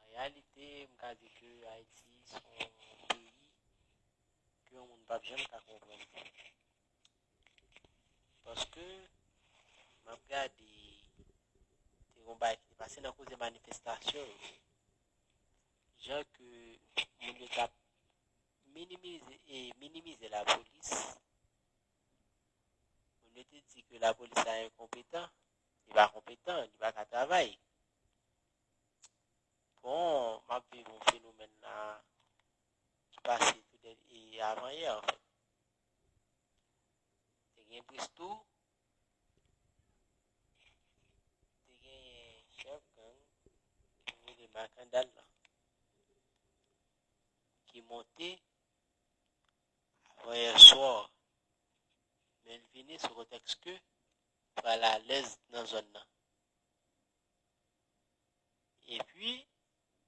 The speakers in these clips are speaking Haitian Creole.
An reyalite, m ka di ke Ayiti s on peyi ke yon moun pap janm ka konprann. Paske, m ap gade, te gon bagay ki te pase nan koze manifestasyon yo. Jan ke moun yo t ap minimize e minimize lapolis. Moun yo te di ke lapolis la enkonpetan, li pa konpetan, li pa ka travay. Bon, m ap viv yon fenomèn la ki pase avan yè anfèt. Te gen Bristou, te gen chèf gang ki rele Makandal la, ki monte avan yè swa, men l vini sou pretèks ke pral alèz nan zòn nan. Epi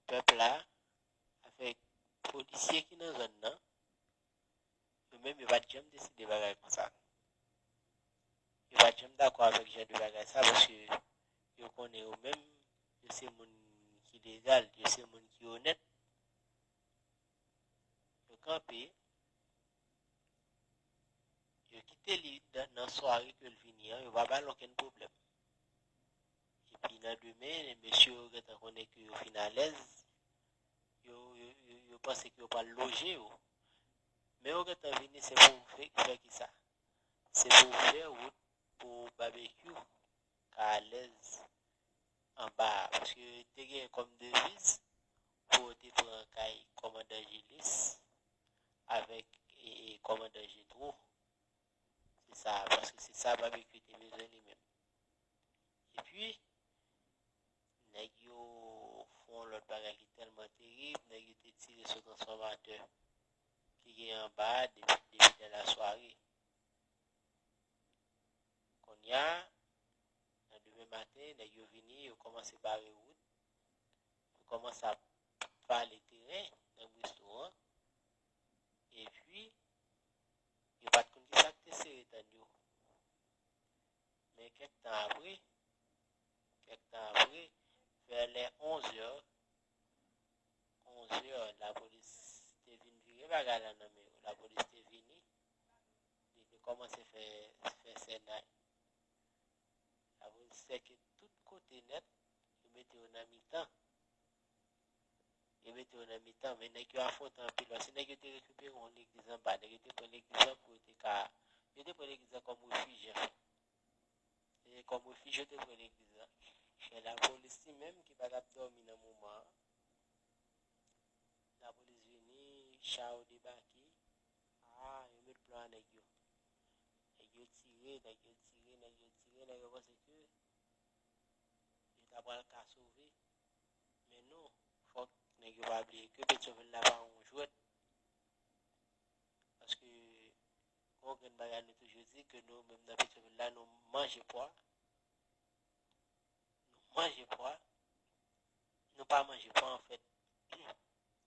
pèp la avèk polisye ki nan zòn nan, yo menm yo pa t janm deside bagay konsa. Yo pa t janm dakò avèk jan de bagay sa paske yo konnen yo menm yo se moun ki legal, yo se moun ki onèt. Yo kanpe, yo kite li nan sware ke l vini an, yo pa ba l okenn pwoblèm. Epi nan demen, mesye yo gentan konnen ke yo fin alèz, yo panse ke yo pral loje yo. Men yo gentan vini se pou fè ki sa? Se pou fè wout pou babekyou ka alèz anba a. Paske yo te gen kòm deviz pou yo te pran kay kòmandan Jilis avèk kòmandan Jetwo. Se sa, paske se sa Babekyou te bezwen li menm. E pi, nèg yo fon yon lòt bagay ki tèlman terib, nèg yo te tire sou transfòmatè ki gen anba a depi dè la sware. Kounya, nan demen maten, nèg yo vini, yo kòmanse bare wout, yo kòmanse ap vale teren nan Bristo an, e pi, Yo pa t konn ki sa k te sere dann yo. Men kèk tan apre, kèk tan apre, vè lè onzè, onzè, lapolis te vin vire bagay la nan men yo. Lapolis te vini, li te kòmanse fè sènay. Lapolis sèke tout kote nèt, yo mete yo nan mitan. Yo mete yo nan mitan, men nèg yo afwonte anpil. Paske nèg yo te rekipere yon legliz anba. Nèg yo te pran legliz lan pou yo te ka... Yo te pran legliz lan kòm refij, anfen. Se kòm refij yo te pran legliz lan. Men lapolis li menm ki pa t ap dòmi nan moman an, lapolis vini, cha yo debake, a, yo met plan a nèg yo. Nèg yo tire, nèg yo tire, nèg yo tire, nèg yo panse ke yo ta pral ka sove. Men nou, fòk nèg yo pa bliye ke Petyonvil la pa yon jwèt. Paske, gen yon grenn bagay nou toujou di, ke nou menm nan Petyonvil la, nou manje pwa. Nou manje pwa. Nou pa manje pwa anfèt.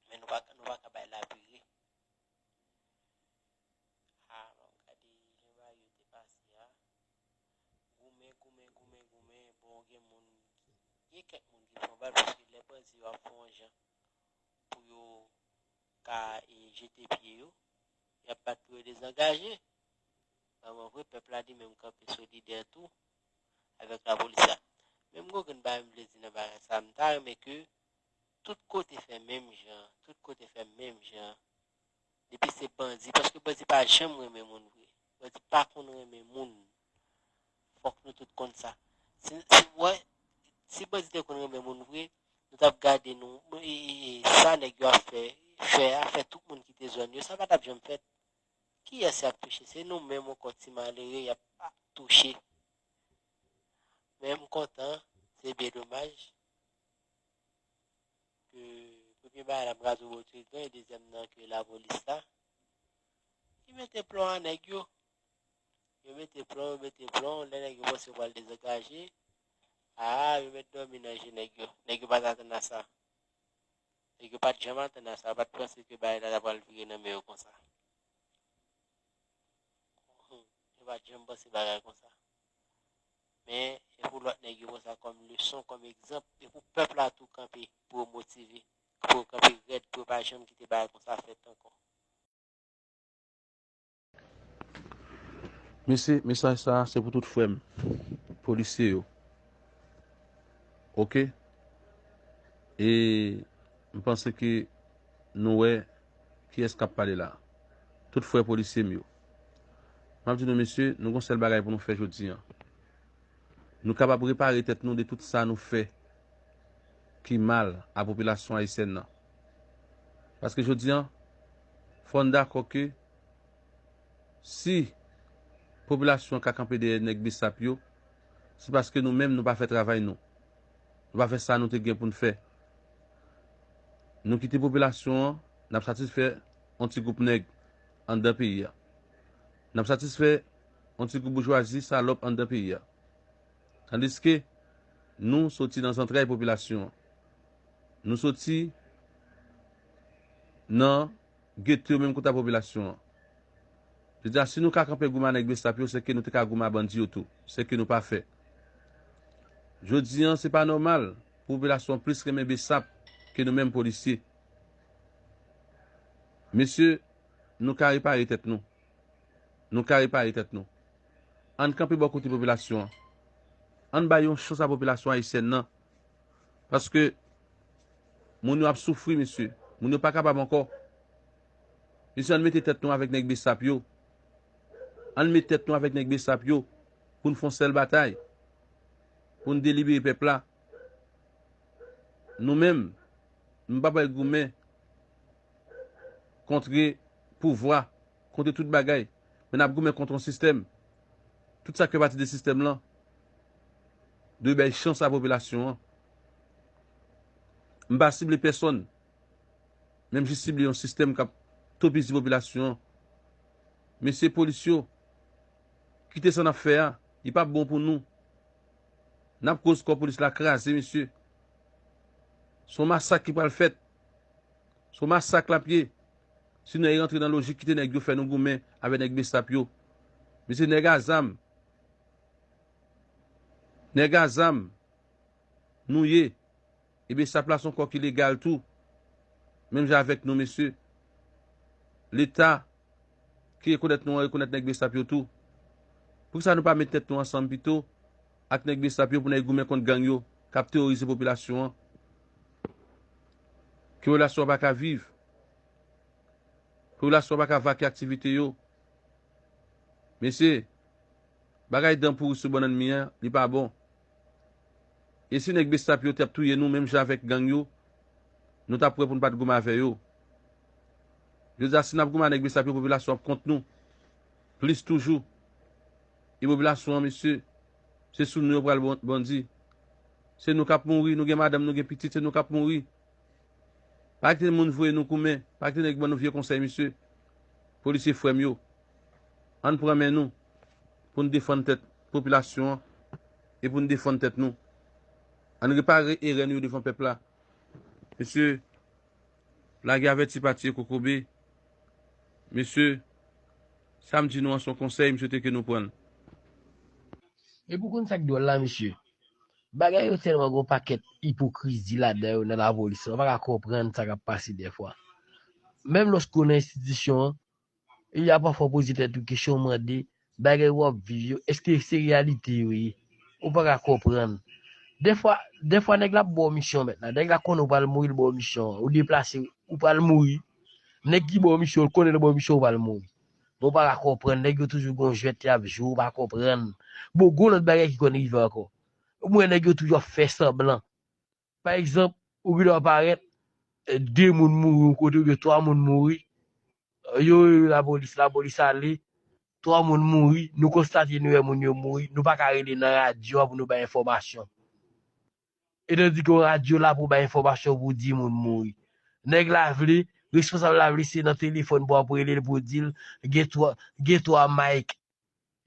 Men nou pa ka bay la pire. Goumen goumen goumen goumen bon gen moun gen kèk moun ki pran bal paske lè bandi yo ap fè yon jan pou yo ka jete pye yo y ap bat pou yo dezangaje vreman vre pèp la li menm kanpe solidè tou avèk lapolis la men m gen yon grenn bagay m vle di nan bagay sa m ta renmen ke tout kote fè menm jan tout kote fè menm jan Depi se bandi paske bandi pa janm renmen moun vre bandi pa konn renmen moun fòk nou tout konn sa si wè si bandi te konn renmen moun vre nou tap gade nou sa nèg yo ap fè fè a fè tout moun kite zòn yo sa pa tap janm fèt kiyès yap touche se nou menm ankò ti malere yap touche men mkontan se byen domaj. ke premye bagay lap graze ou bòtire dlo e dezyèm nan ke la polis la ki mete plon a nèg yo yo mete plon yo mete plon lè nèg yo panse wal dezagaje aa yo met dòmi nan je nèg yo nèg yo pat atann a sa nèg yo pat janm atann a sa yo pat panse ke bagay la ta pral vire nan men yo konsa yo pat janm panse bagay konsa men e pou lòt nèg yo pran sa kòm leson kòm egzanp e pou pèp la tou kanpe pou yo motive pou yo kanpe rèd pou yo pa janm kite bagay konsa fèt ankò. Mesi mesaj sa se pou tout frem polisye yo ok e m panse ke nou we kiyes kap pale la tout fre polisye m yo. M ap di nou, mesye, nou gon sèl bagay pou nou fè jodi an. Nou kapab repare tèt nou de tout sa nou fè ki mal a popilasyon ayisyèn nan. Paske jodi an, fò n dakò ke si popilasyon an ka kanpe dèyè nèg bsap yo, se paske nou menm nou pa fè travay nou. Nou pa fè sa nou te gen pou n fè. Nou kite popilasyon an, n ap satisfè yon ti gwoup nèg. anndan peyi a. N ap satisfè yon ti gwoup boujwazi salòp anndan peyi a. Tandiske nou soti nan zantray popilasyon an. Nou soti nan gete yo menm kouta popilasyon an. Je di a si nou ka kanpe goumen a nèg Bsap yo sèke nou te ka goumen a bandi yo tou. Sèke nou pa fè. Jodi an se pa nòmal pou popilasyon an plis renmen Bsap ke nou menm polisye. Mesye, nou ka repare tèt nou. Nou ka repare tèt nou. Ann kanpe bò kote popilasyon an. Ann bay yon chans a popilasyon ayisyèn nan. Paske, moun yo ap soufri, mesye. Moun yo pa kapab ankò. Mesye, ann mete tèt nou avèk nèg besap yo. Ann met tèt nou avèk nèg besap yo pou n fè yon sèl batay. Pou n delibere pèp la. Nou menm. Nou pa pral goumen kontre pouvwa, kontre tout bagay, men nap goumen kontre yon sistèm. Tout sa k fè pati de sistèm lan dwe bay chans a popilasyon an. M pa sible pèsonn, men m jis sible yon sistèm k ap topizi popilasyon an. Mesye polis yo, kite sa n ap fè a, li pa bon pou nou. N ap koz kò polis la kraze mesye. Son masak ki pral fèt. Son masak lap ye. Si nou rentre nan lojik kite nèg yo fè nou goumen avè nèg bsap yo. Mesye nèg a zam. Nèg a zam. Nou ye. E bsap la son kò ki legal tou. Menm jan avèk nou mesye. Leta. ki rekonèt nou an rekonèt nèg besap yo tou. Poukisa nou pa met tèt nou ansanm pito ak nèg besap yo pou nèy goumen kont gang yo kap teworize popilasyon an. Popilasyon an pa ka viv. Popilasyon an pa ka vake aktivite yo. Mesye, bagay dan pouri sou bannann mi an, li pa bon. E si nèg besap yo tap touye nou menm jan avèk gang yo, nou tap wè pou nou pat goumen avè yo. Jodi a si nap goumen anèk besap yo popilasyon ap kont nou plis toujou e popilasyon an mesye se sou nou yo pral bandi se nou kap mouri nou gen madanm nou gen pitit se nou kap mouri pa kite moun voye nou koumen pa kite nèg ban nou vye konsèy mesye polisye frèm yo ann pran men nou poun defann tèt popilasyon an e poun defann tèt nou ann repare erè nou yo devan pèp la mesye Lage avèti pa tiye kokobe. Mesye, sa m di nou an son konsèy m swete ke nou pran l. Epi ou konn sa k dwòl la mesye? Bagay yo tèlman gon pakèt ipokrizi ladan yo nan lapolis lan, ou pa ka konprann sa k ap pase dèfwa. Menm lòske ou nan enstitisyon an, Epi a pafwa w poze tèt ou kesyon w mande, bagay w ap viv yo eske se reyalite yo ye? Ou pa ka konprann. Dèfwa, dèfwa nèg la ap ba w misyon mèt la, nèg la konnen ou pral mouri li ba w misyon an, ou deplase ou pral mouri, nèg ki ba w misyon an li konnen lè l ba w misyon an ou pral mouri. Men w pa ka konprann, nèg yo toujou gon jwèt y ap jwe ou pa konprann. Bon gon lòt bagay ki konn rive ankò. Ou wè nèg yo toujou ap fè sanblan. Pa egzanp, ou gen dwa parèt, 2 moun mouri yon kote oubyen 3 moun mouri, yo rele lapolis, lapolis ale, 3 moun mouri, nou konstate nou wè moun yo mouri, nou pa ka rele nan radyo a pou nou bay enfòmasyon. Etandike yon radyo la pou bay enfòmasyon pou di moun mouri. Nèg la vle, responsab la vle se nan telefòn pou ap rele l pou di l gen 3 Mike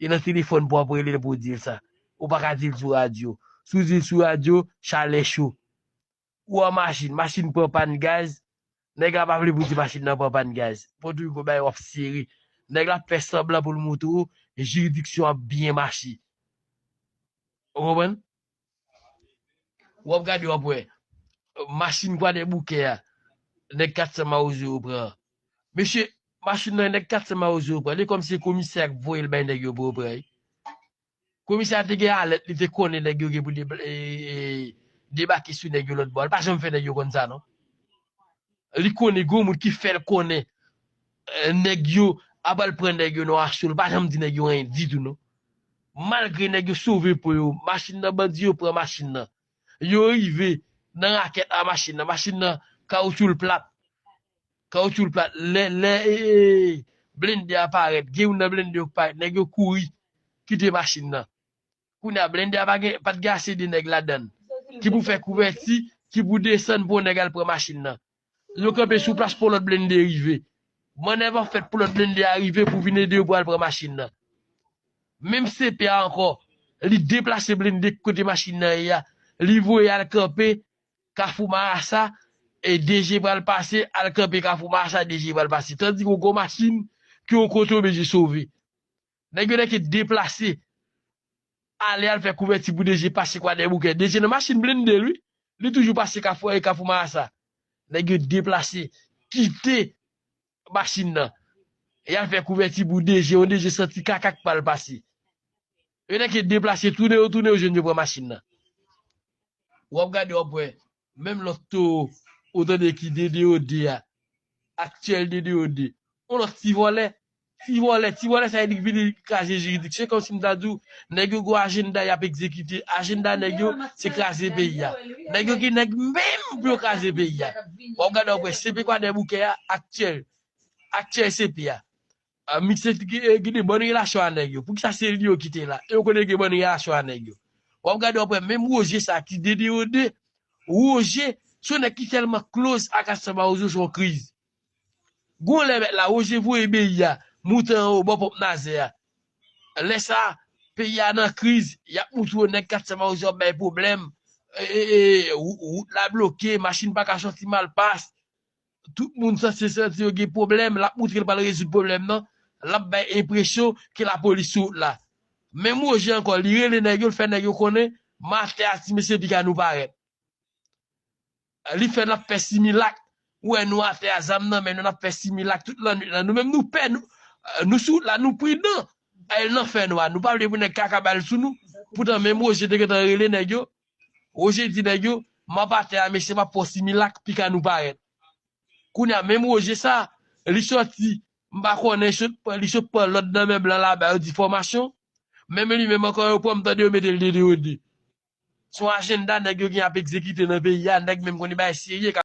E nan telefòn pou wap relel pou dil sa. Ou pa ka dil sou radyo. Si w dil sou radyo, chalè cho. Ou an machin, machin pran pàn gaz, nèg la pa vle pou w di machin nan pran pàn gaz. Pòt Rico bagay yo ap sere. Nèg la ap fè sanblan pou l moutre w jiridiksyon ap byen mache. Ou konprann? Wap gade wap wè. Machine kwadèboukè a nèg 400 mawozo yo pran an. Mesye machine nan nèg 400 mawozo yo pran li kòmsi se komisè a ki voye l bay nèg yo pou yo pran li. Komisè a te gen alèt li te konnen nèg yo gen pou debake sou nèg yo lòtbò a li pa janm fè nèg yo konn sa non. Li konnen gen yon moun ki fè l konnen Nèg yo ap al pran nèg yo nan aso l pa janm di nèg yo anyen ditou non. Malgre nèg yo sove po yo, machin nan bandi yo pran machin nan. Yo rive nan rakèt a machin nan, machin nan kawoutchou l plat. Kawoutchou l plat lè lè blende a parèt gen youn nan blende yo k parèt nèg yo kouri kite machin nan. Kounye a blende a pa gen pat gen ase de nèg ladann ki pou fè kouvèti ki pou desann pou yon nèg al pran machin nan. Yo kanpe sou plas pou yon lòt blende rive. Mannèv an fèt pou lòt blende a rive pou vin ede yo pou al pran machin nan. Menm CP a ankò, li deplase blende kote machin nan ye a, li voye al kanpe kafou marasa e DG pral pase al kanpe kafou marasa DG pral pase. Tandis yon gwo machin ki yon kote oblije sove. Nèg yo dèke deplase ale al fè kouvèti pou DG pase Kwadèboukè. DG nan machin blende l wi. Li toujou pase Kafou 1 e Kafou Marasa. Nèg yo deplase, kite machin nan. Y al fè kouvèti pou DG, yon DG santi kaka k pa l pase. Yo dèke deplase tounen yo tounen yo jwenn yo pran machin nan. W ap gade w ap wè Menm lòt towo ou tande ki DDOD a, aktyèl DDOD, yon lòt ti vòlè, ti vòlè, ti vòlè sa vle di ki vini kraze jiridiksyon, se kòm si m ta di w nèg yo gon ajennda y ap egzekite, ajennda nèg yo se kraze peyi a. Nèg yo ki nèg menm pou yo kraze peyi a. W ap gade w ap wè CP Kwadèboukè a, aktyèl, aktyèl CP a, Mixe t gen bon relasyon a nèg yo poukisa se li yo kite la yo konnen gen bon relasyon a nèg yo wap gade wap wè menm Roger sa ki dedeyode Roger son nèg ki tèlman close ak Astou Mawozo son kriz gon lè mèt la Roger voye beyi a moute anwo bò ponp nazè a lè sa peyi a nan kriz yap moutre w nèg Astou Mawozo ap bay pwoblèm ee wout la bloke machin paka soti malpas Tout moun sa se santi yo gen pwoblèm lap moutre li pral rezoud pwoblèm nan, lap bay enpresyon ke lapolis sou wout la. Menm Roger ankò li rele nèg yo li fè nèg yo konnen matè a ti mesye piga nou parèt. Li fè nap fè similak, ou wè nou atè a zam nan men nou nap fè similak tout lannwit la nou menm nou pè nou sou wout la nou pridan, al nan fè nwa nou pa vle pou nèg kaka bal sou nou poutan menm Roger te gentan rele nèg yo Roger di nèg yo, map atè a mesye map fè yon similak pika nou parèt. Kounya menm Roger sa, li sòti m pa konnen li sot pran lòd nan men blan laba yo difomasyon, menm li menm ankò yo pran m tande yo mete l dede yo de. Son ajenda nèg yo gen ap egzekite nan peyi a, nèg menm konn li bagay serye kap.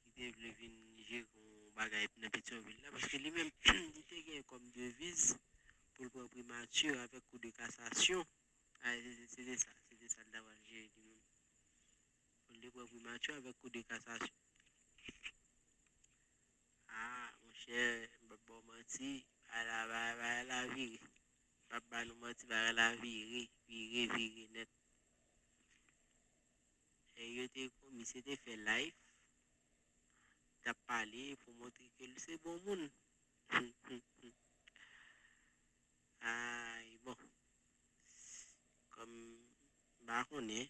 ki te vle vin jere yon bagay nan Petyonvil la, paske li menm li te gen kòm deviz pou l pran primati avèk kou de kasasyon, se te sa, se te sa l ta pral jere li menm, pou l te pran primati avèk kou de kasasyon. A, monchè, m pa bon manti, bagay la vire, m pa ba nou manti, bagay la vire, vire, vire nèt. Lè yo te konn misye te fè live tap pale pou montre ke l se bon moun ayy bon kòm pa konnen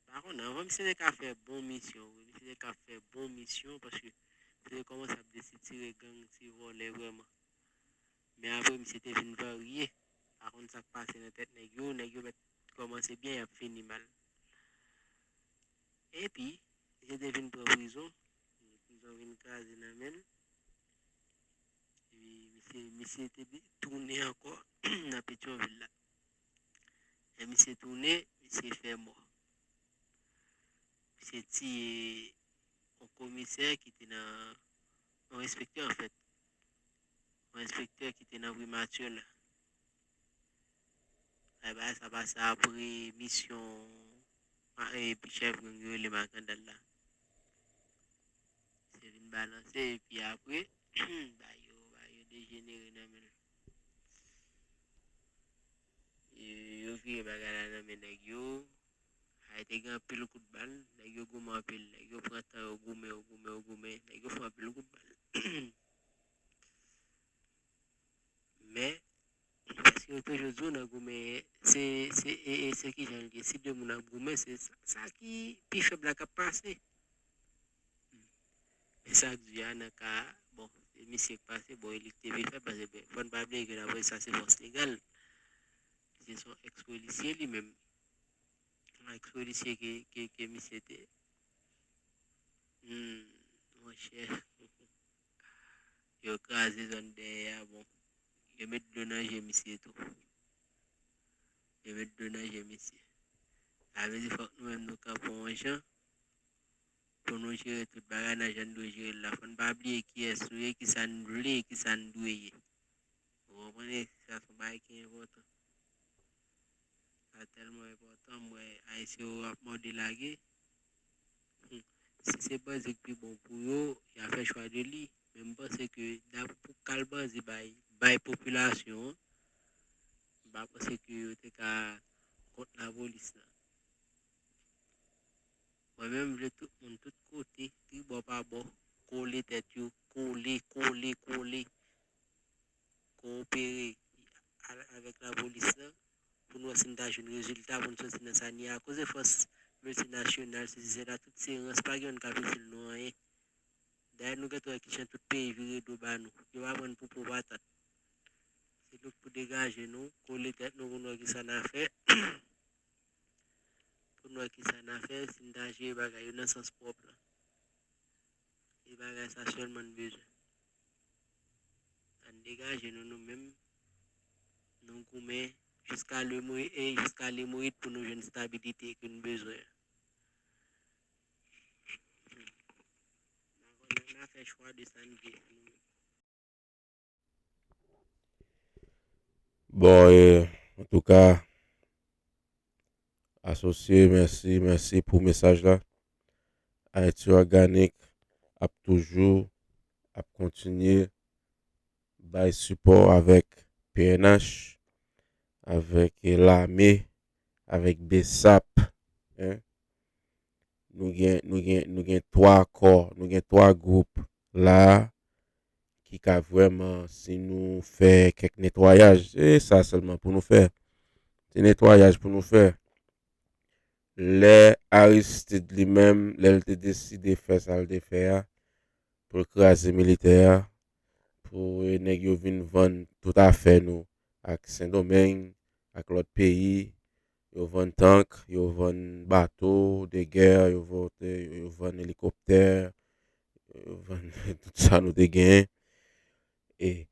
pa konnen anvan misye te ka fè bon misyon wi misye te ka fè bon misyon paske misye te kòmanse ap desitire gang ti vòlè vrèman Men apre misye te vin varye, pa konn sa k pase nan tèt nèg yo, nèg yo mèt kòmanse byen y ap fini mal. Epi, misye te vin pran prizon, prizon vin kraze nan men l. Epi, misye te tounen ankò nan Petyonvil la. E misye tounen, misye fè mò. Misye tiye yon komisè ki te nan, yon enspektè anfèt. Yon enspektè ki te nan primati la. Ay bagay sa pase apre misyon ma e pi chèf gang yo rele Makandal la. Se vin balanse e pi apre ba yo ba yo dejenere nan men. Yo vire bagay la nan men nèg yo, Kay te gen anpil kout bal, nèg yo goumen anpil, nèg yo pran tan yo goumen, yo goumen, yo goumen, nèg yo fè anpil kout bal. Men, paske yo toujou di w nan goumen, se, se, e, e, se ki jan l ye, si de moun ap goumen, se sa ki pi fèb la k ap pase. Men sa k di a nan ka a, bon, se misye k pase, bon, e li k te pi fèb, pase, fò n pa bliye ke dapre sa se fòs legal. Misye son ex polisye li menm. Son ex polisye ke ke misye te. Hmm, mon chè. Yo kraze zòn dèyè a bon. Yo met dlo nan je misye tou. Yo met dlo nan je misye. Sa vle di fòk nou menm nou kanpe yon jan pou nou jere tout bagay nan jan nou dwe jere la. Fòn pa bliye kiyès nou ye, ki sa nou vle, ki sa nou dwe ye. Mwen konprann e sa son bagay ki enpòtan. Sa tèlman enpòtan m wè ayisyen yo ap mòde lage. Hum, si se banzi k pi bon pou yo, ya fè chwa de li. Men m panse ke dap pou kal banzi bay, bay popilasyon an, m pa panse ke yo te ka kont lapolis la. Mwen menm m vle tout moun tout kote, tribò pa bò, kole tèt yo, kole, kole, kole. kowonpere avèk lapolis lan pou n wè si n ta jwenn rezilta pou n soti nan sa n ye a akoz de fòs miltinasyonal sesi sela tout se rans pa gen youn k ap itil nou anyen dayè nou gentan wè ki jan tout peyi vire do ba nou yo pa pran n pou po patat se nou k pou degaje nou kole tèt nou pou n wè ki sa n a fè pou n wè ki sa n a fè si n ta jere bagay yo nan sans pwòp lan. E bagay sa selman n bezwen. Ann degaje nou nou menm nou goumen jiska lemourit e jiska lemourit pou nou jwenn stabilite ke n bezwen an. Nan fè chwa de sa n vle. Bon e, antouka, asosye mèsi, mèsi pou mesaj la. Ayiti Òganik ap toujou ap kontinye bay sipò avèk pnh, avèk lame, avèk bsap. nou gen, nou gen, nou gen 3 kò, nou gen 3 gwoup la a ki ka vrèman si nou fè kèk netwayaj, se sa sèlman pou nou fè. Ti netwayaj pou nou fè. Lè Aristid li menm, lè l te deside fè sa l te fè a, pou l kraze militè a, pou nèg yo vin vann tout afè nou ak Sendomeng, ak lòt peyi, Yo vann tank, yo vann bato de gè, yo vann elikoptè, yo vann tout sa nou te genyen. E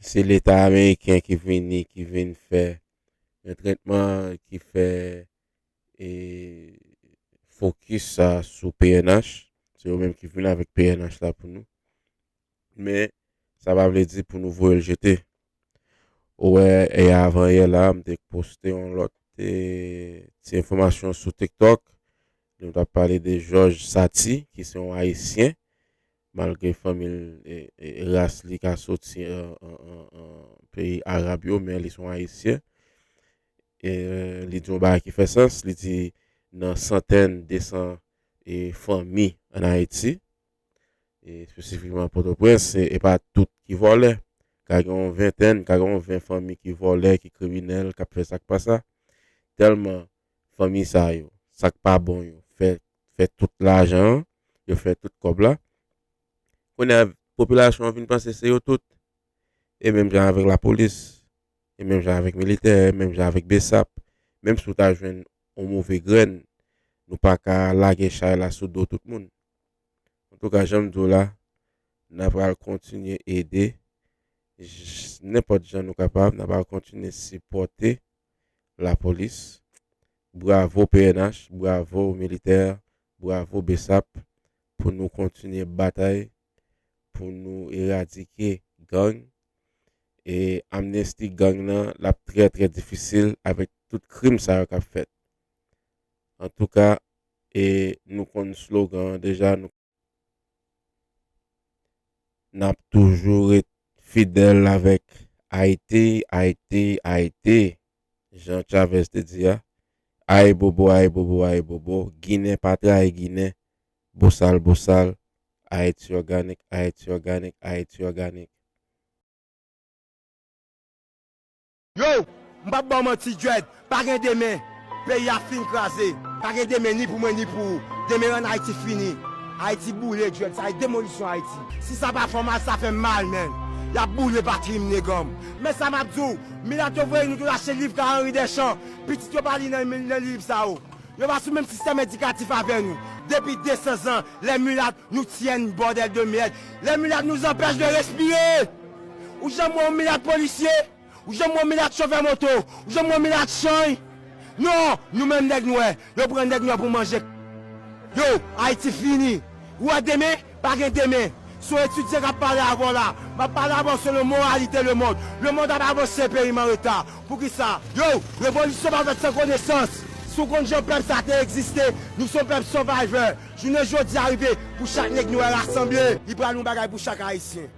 se leta ameriken ki vini, ki vin fè yon trètman ki fè e fokis sa sou pnh. Se yo menm ki vin avèk pnh la pou nou. Men, sa pa vle di pou nou voye l jete. Ou wè, yè avan yè la, m te poste yon lòt ti enfòmasyon sou TikTok. Nou t ap pale de Jòj Sati, ki se yon Ayisyen, malgre fanmi l, ras li ka soti peyi Arab yo, men li se yon Ayisyen. E li di yon bagay ki fè sans, li di nan santèn, desan fanmi ann Ayiti. espesifikman Pòtoprens, e pa tout ki vòlè. Ka gen yon ventèn, ka gen yon ven fanmi ki vòlè, ki kriminèl, k ap fè sa k pa sa. Tèlman fanmi sa yo, sa k pa bon yo fè fè tout lajan an, yo fè tout kòb la. Kounye a, popilasyon an vin panse se yo tout. E menm jan avèk lapolis, e menm jan avèk militè, e menm jan avèk bsap, menm si w ta jwenn yon move grenn, nou pa ka lage chay la sou do tout moun. An tou ka janm diw la na pral kontinye ede nenpòt jan nou kapab na pral kontinye sipòte lapolis bravo pnh bravo militè bravo bsap pou nou kontinye batay pou nou eradike gang e amnesti gang nan lap trè trè difisil avèk tout krim sa yo kap fèt Antouka e nou konn slogan an deja nou nap toujou ret fidèl avèk Ayiti, Ayiti, Ayiti jan Chavez te di a Ayibobo, Ayibobo, Ayibobo Ginen pa trayi Ginen Bosal, Bosal Ayiti òganik, Ayiti òganik, Ayiti òganik. Yow! M pap baw manti Dread, pa gen demen. Peyi a fin kraze. Pa gen demen ni pou mwen ni pou ou. Demen an Ayiti fini. Ayiti boule Dread, sa e demolisyon Ayiti. Si sa pa fè w mal, sa fè m mal menn. Y ap boule patri m neganm. Men sa m ap di w, milat yo voye nou tou lache liv ka Henri Deschamps, pitit yo pa li nan liv sa yo. Yo pa sou menm sistèm edikatif avè nou. Depi 200 zan, les mulâtres nous tiennent bordel de merde. Les mulâtres nous empêchent de respirer! Ou janm wè yon milat polisye? Ou janm wè yon milat chofè moto? Ou janm wè yon milat chany? Non! Nou menm nèg nwè, yo pran nèg nwè pou manje k yo, Ayiti fini! Ou wè demen? Pa gen demen! Se yon etidyan k ap pale avè w la. M ap pale avè w selon moralite lemond. Lemond ap avanse, peyi m an reta. Poukisa? Yo! Revolisyon pa fèt san konesans! Si w konn jan pèp sa te egziste, nou se yon pèp sovajè. Jounen jodi a rive pou chak nèg nwè rasanble. Li pral yon bagay pou chak Ayisyen.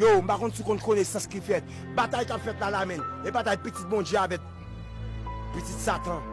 Yow mpa konn si w konn konesans ki fèt batay kap fèt la la menn e batay pitit Bondye avèk pitit satan.